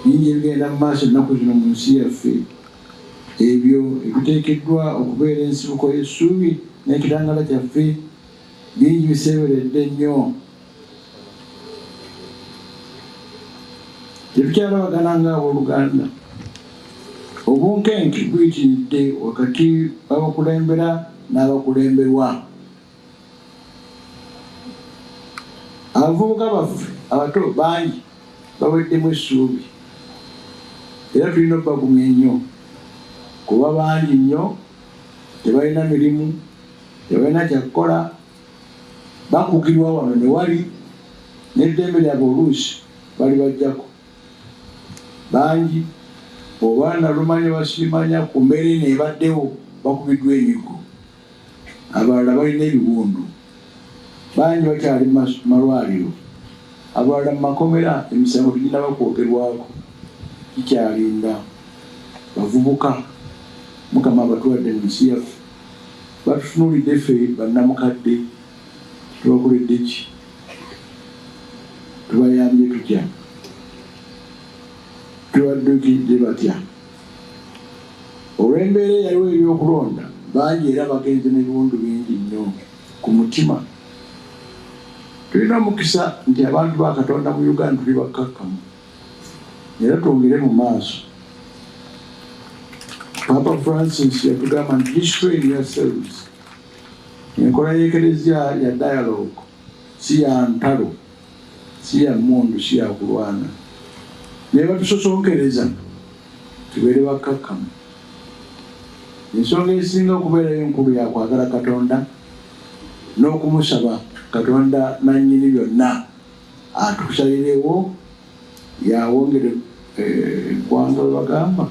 bingi ebigenda mu maaso ennaku zino mu nsi yaffe ebyo ebiteekeddwa okubeera ensibuko y'essuubi n'ekitangala kyaffe bingi biseeberedde nnyo tetukyalabagana nga abooluganda obunkenke buyitiridde wakati w'abakulembera n'abakulemberwa abavubuka baffe abato bangi baweddemu essuubi era tulina okubagumya ennyo kuba bangi nnyo tebalina mirimu tebalina kyakukola bakugirwa wano ne wali n'eddembe lyabwe oluusi bali bajjako bangi oba nalumanya basiimanya ku mbeera eno ebaddewo bakubiddwa emigo abalala balina ebiwundu, bangi bakyali mu malwaliro, abalala mu makomera emisango teginnaba kwogerwako, tukyalinda. Bavubuka Mukama abatuwadde mu nsi yaffe, batutunuulidde ffe bannamukadde, tubakoledde ki? Tubayambye tutya? Tubaddukidde batya? Olw'embeera eyaliwo ey'okulonda, bangi era bagenze n'ebiwundu bingi nnyo ku mutima. Tulina omukisa nti abantu ba Katonda mu Uganda tuli bakkakkamu era twongere mu maaso. Papa Francis yatugamba nti destroy yourselves. Enkola y'ekereziya ya dialogue si ya ntalo. si ya mmundu si ya kulwana naye batusosonkereza tubeere bakkakkamu ensonga esinga okubeerayo enkulu yakwagala katonda n'okumusaba katonda nannyini byonna atusalirewo yawongere eggwanga eh, webagamba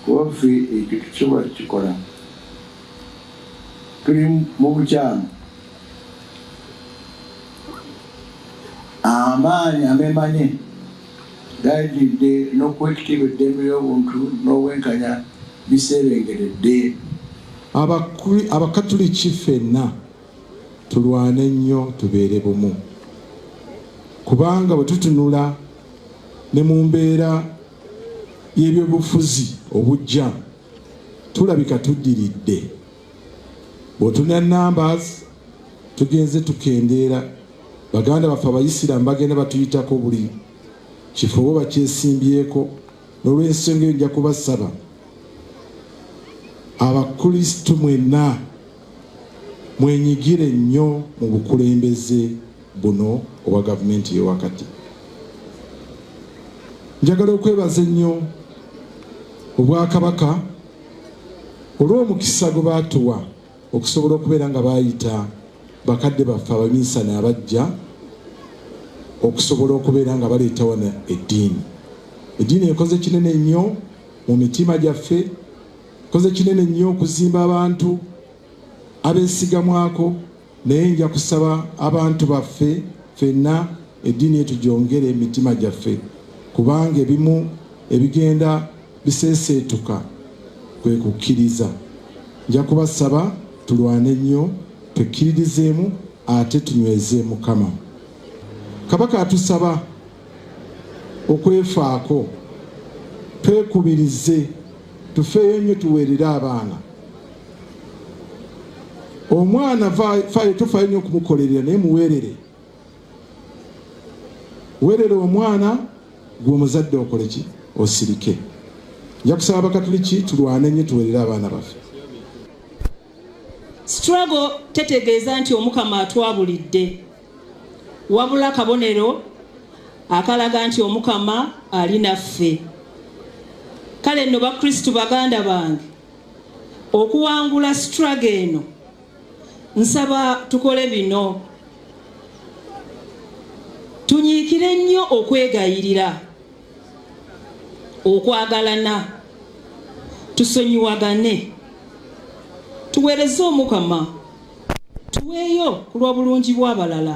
kuba ffe ekyo tukisobola kukikola tuli mu bukyamu amaanyi amemanye gajidde n'okwekitiibwa eddembe ly'obuntu n'obwenkanya biseerengeredde abakatuliki fenna tulwane nnyo tubeere bumu kubanga bwe tutunula ne mu mbeera y'ebyobufuzi obujja tulabika tuddiridde bwotuna numbers tugenze tukendeera baganda baffe abayisiraamu bagenda batuyitako buli kifo bo bakyesimbyeko n'olwensonga eyo nja kubasaba abakristu mwenna mwenyigire nnyo mu bukulembeze buno obwa gavumenti yewakati. Njagala okwebaza ennyo Obwakabaka olw'omukisa gwe baatuwa okusobola okubeera nga baayita bakadde baffe abaminsani abajja okusobola okubeera nga baleeta wano eddiini. Eddiini ekoze kinene nnyo mu mitima gyaffe Koze kinene nnyo okuzimba abantu abesigamwako naye nja kusaba abantu baffe fenna eddiini etu gyongere emitima gyaffe kubanga ebimu ebigenda biseeseetuka kwe kukkiriza. Nja kubasaba tulwane nnyo tukkiririzeemu ate tunyweze Mukama. Kabaka atusaba okwefaako twekubirize tufeeyo nnyo tuweerere abaana omwana faayo tufaayo nnyo okumukolerera naye muweerere weerere omwana gwe omuzadde okole ki osirike nja kusaba abakatuliki tulwane nnyo tuweerere abaana baffe struggle tetegeeza nti omukama atwabulidde wabula kabonero akalaga nti omukama ali naffe kale nno bakristu baganda bange okuwangula struggle eno nsaba tukole bino tunyiikire nnyo okwegayirira okwagalana tusonyiwagane tuweereze omukama tuweeyo ku lw'obulungi bw'abalala